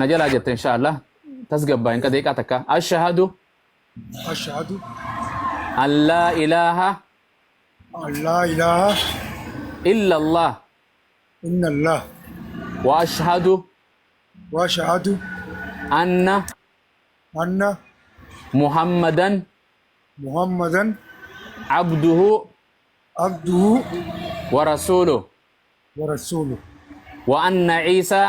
na jalaa jette insha Allah tasgabbaa hin qadeeqaa takka ashahadu ashahadu an laa ilaaha an laa ilaaha illa Allah inna allah wa ashahadu wa ashahadu anna anna muhammadan muhammadan abduhu abduhu wa rasuuluh wa rasuuluh wa anna ciisaa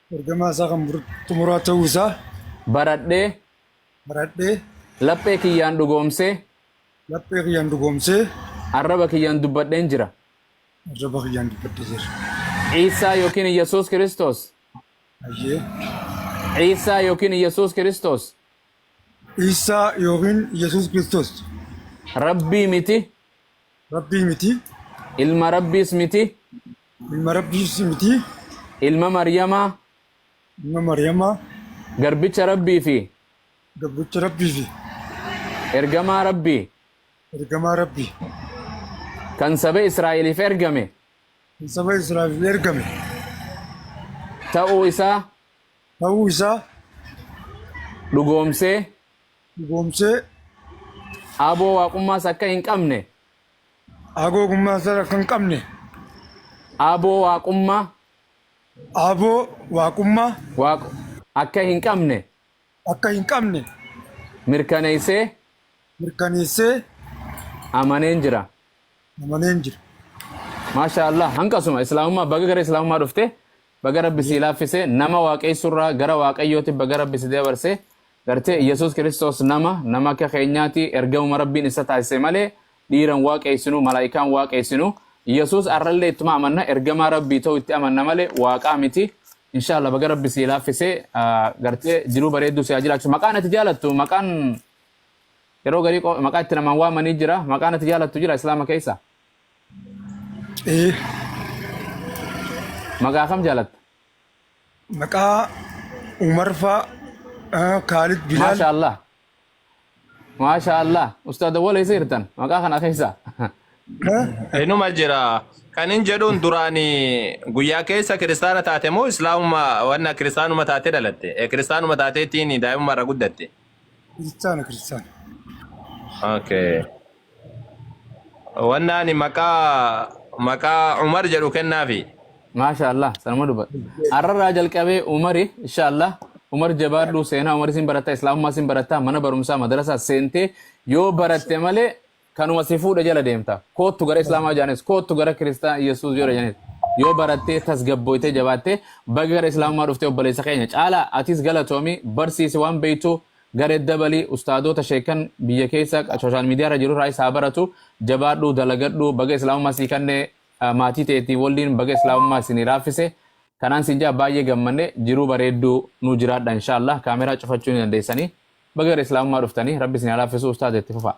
Ergamaa isaa kan xumuraa ta'uu isaa. baradhee. baradhee. laphee kiyyaan dhugoomsee. laphee kiyyaan dhugoomsee. arraba kiyyaan dubbadheen jira. arraba kiyyaan dubbadhee jira. Iisaa yookiin Iyyasuus Kiristoos. Ayyee. Iisaa yookiin Iyyasuus Kiristoos. Iisaa yookiin Iyyasuus Kiristoos. Rabbii miti. Rabbii miti. Ilma Rabbiis miti. Ilma Rabbiis miti. Ilma Maryamaa. Ilma Maryamaa. Garbicha Rabbii fi. Garbicha Rabbii fi. Ergamaa Rabbii. Ergamaa Rabbii. Kan saba Israa'eliif ergame. Kan saba Israa'eliif ergame. Ta'uu isaa. Ta'uu isaa. Dhugoomsee. dhugoomsee. Aboo Waaqummaas akka hin qabne. Aboo Waaqummaas akka hin qabne. Aboo Waaqummaa. Aboo Waaqummaa. Waaq akka hin qabne. akka hin qabne. mirkaneessee. mirkaneessee. amaneen jira. amaneen jira. Maashaa Allah hanqasuma islaamummaa baga gara islaamummaa dhufte Baga rabbi sii laaffise nama waaqeessurraa gara waaqayyooti baga rabbi si dabarse gartee iyesus kiristoos nama nama akka keenyaati ergamuma rabbiin issa taasise malee dhiiran waaqeessinu malaa'ikaan waaqeessinu iyesus arrallee ittuma amanna ergamaa rabbii ta'u itti amanna malee waaqaa miti inshaalla baga rabbi sii laaffise gartee jiruu bareedduu siyaa jiraachu maqaan ati jaalattu maqaan yeroo garii maqaa itti namaan waamanii jira maqaan ati jaalattu jira islaama keessa Ee, Maqaa kam jaalatta? maqaa Umar faa, ah, Kaalid Bilaal. Maasha Allah. Maasha Allah. Ustaad Awwal eessa jirtan? Maqaa kana keessa. Ah, Inuma jira. Kan hin jedhuun duraani guyyaa keessa kiristaana taate moo islaamuma wanna kiristaanuma taate dhalatte? Eh, Kiristaanuma taateetiin daa'imummaa irra guddatte. Kiristaana kiristaana. Okay. Wanna ani maqaa maqaa Umar jedhu kennaafi. Maasha Allah sanuma dubbadha. Har'arraa jalqabee Umari insha Allah Umar jabaadhu seenaa Umar isin baratta Islaamummaa isin baratta mana barumsaa madrasaa seentee yoo baratte malee kanuma si fuudhe jala deemta koottu gara islaamaa jaanis koottu gara kiristaan yesuus yoo jaanis yoo barattee tasgabbooytee jabaattee baga gara islaamummaa dhuftee obboleessa keenya caala atis galatoomi barsiisi waan beeytu garee dabalii ustaadoota sheekan biyya keessa sooshaal miidiyaa irra jiru irraa isaa baratu jabaadhu dalagadhu baga islaamummaa sii kanne ah, maatii teetiin waliin baga islaamummaa isinii laaffise kanaan siin jaa baay'ee gammanne jiruu bareedduu nuu jiraadha inshaallah kaameraa cufachuu ni dandeessanii Baga gara Islaamummaa dhuftanii rabbi isin haa laaffisuu ustaaza itti fufaa.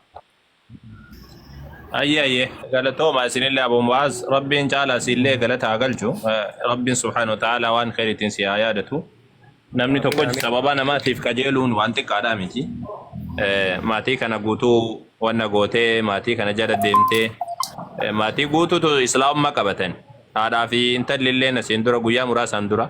Ayyee ayyee galatooma isinillee Abu Mu'aaz Rabbiin caalaa siinillee galata haa galchu Eh, Rabbiin subhaanahu wa ta'aalaa waan kheyriitiin si haa yaadatu namni tokko Amiin amiin. sababa namaatiif qajeeluun waan xiqqaadhaa miti Eh, maatii kana guutuu wanna gootee maatii kana jala deemtee eh, maatii guutuutu islaamummaa qabatan haadhaa fi intalli illee asiin dura guyyaa muraasaan dura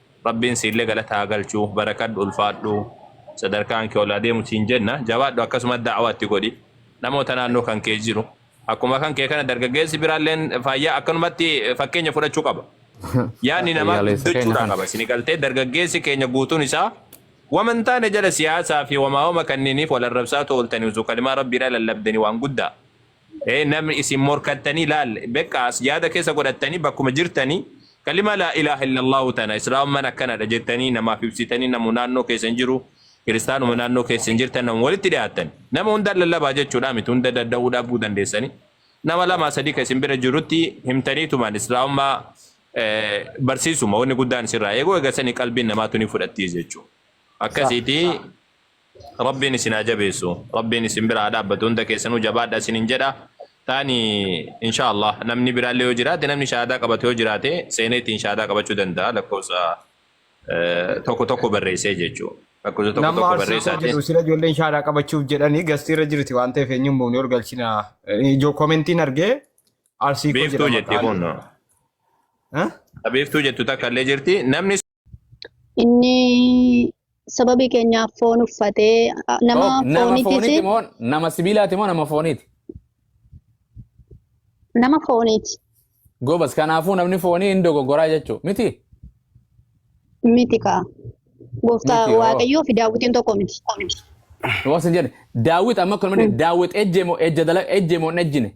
Rabbiin siillee galata haa galchu barakadhu ulfaadhu sadarkaan kee ol haa deemu siin jenna jabaadhu akkasuma da'awaa itti godhi namoota naannoo kan kee jiru akkuma kan kee kana dargaggeessi biraalleen faayyaa akkanumatti fakkeenya fudhachuu qaba yaanni namaa Fayyaaleessa keenya guddachuudhaa kana. qaba isin galtee dargaggeessi keenya guutuun isaa wama hin taane jala siyaasaa fi wamaa wama kanniiniif wal arrabsaa tooltanii utuu kalimaa rabbiidhaa lallabdanii waan guddaa Ee namni isin morkattanii laal bekka as yaada keessa godhattanii bakkuma jirtanii kalima laa ilaaha illallaahu tana islaamummaan akkanadha jettanii namaaf ibsitanii namu naannoo keessan jiru kiristaanuma naannoo keessan jirtan namu walitti dhiyaattan nama hundaan lallabaa jechuudha miti hunda danda'uu dhabuu dandeessanii nama lamaa sadii ka isin bira jirutti himtaniitumaan islaamummaa eh, barsiisuma wanni guddaan isirraa eeguu eegasanii qalbiin namaatu ni fudhattii jechuudha. Sah, akkasiitii sah. Rabbiin isin haa jabeessu. Rabbiin isin bira haa dhaabbatu. Hunda keessanuu jabaadha isinin jedha. Taani inshaa Allah namni biraallee yoo jiraate namni shahaadaa qabatu yoo jiraate seenee ittiin shahaadaa qabachuu danda'a lakkoofsa eh, tokko tokko barreessee jechuu. Lakkoofsa tokko Nama tokko arsii koo barreessaati. jedhu sila ijoolleen shaadaa qabachuuf jedhanii gastii irra jirti waan ta'eef eenyu hin buune ol galchina. Ijoo komentiin argee arsii koo Biiftuu jedha jetti maqaan. kun. Eh? Biiftuu jettu takka illee jirti. Namni Inni sababii keenyaaf foon uffatee a- nama Ok, Nama fooniitis fooniiti moo nama sibiilaati moo nama fooniiti? nama fooniiti Gobas kanaafuu namni foonii hin dogoggoraa jechuu miti? miti kaa. Gooftaa Miti hoo. Waaqayyoo fi daawwitiin tokko miti. Waan sin jedhe daawwit amma kun malee daawwit ejje moo ejja dala ejje moo hin ejjine?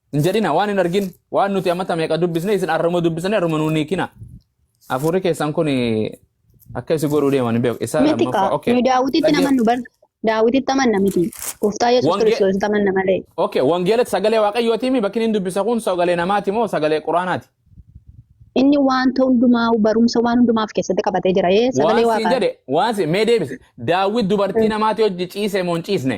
hin jedhina waan hin argin waan nuti ammata meeqa dubbisne isin arruma dubbisne arruma nuun hiikina hafuurri keessan kun akka isi godhuu deeman hin beeku isa Miti kaa. lammaffaa okay Nu daawwititti Dhagge- namannu bar. Daawwititti amanna miti. Gooftaa Yesuus Wange- Kiristoositti amanna malee. okay wangeelatti sagalee waaqayyootiimi bakki inni dubbisa kun sagalee namaati moo sagalee quraanaati Inni wanta hundumaa barumsa waan hundumaa of keessatti qabatee jira. Ee waan sagalee siin waaqaa. jedhe waan siin mee deebise daawwit dubartii namaati hojji ciise moo hin ciisne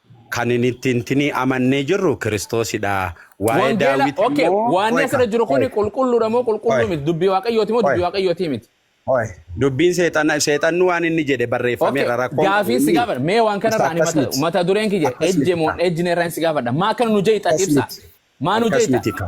Kan hin itti hintinii amannee jirru Kiristoosidha. Waa'ee Wangeela, Daawit okay, immoo waanni qoy asirra ka, jiru kun qoy, qulqulluudha moo qulqulluu qoy, miti? Dubbii Waaqayyooti moo qoy, dubbii Waaqayyootii miti? qoy. Dubbiin seexana, seexanni waan inni jedhe Okay, barreeffameera. Rakkoon qabu gaafiin si inni gaafadha. Mee waan isa kanarraa ani akkas mata, miti. mata dureen kiyya Akkas miti ejjemoon ka. ejjineerraan si gaafadha. Maa kana nu jeeqxati Akkas ibsaa? miti. Maa nu Akkas jeeqxa? miti ka.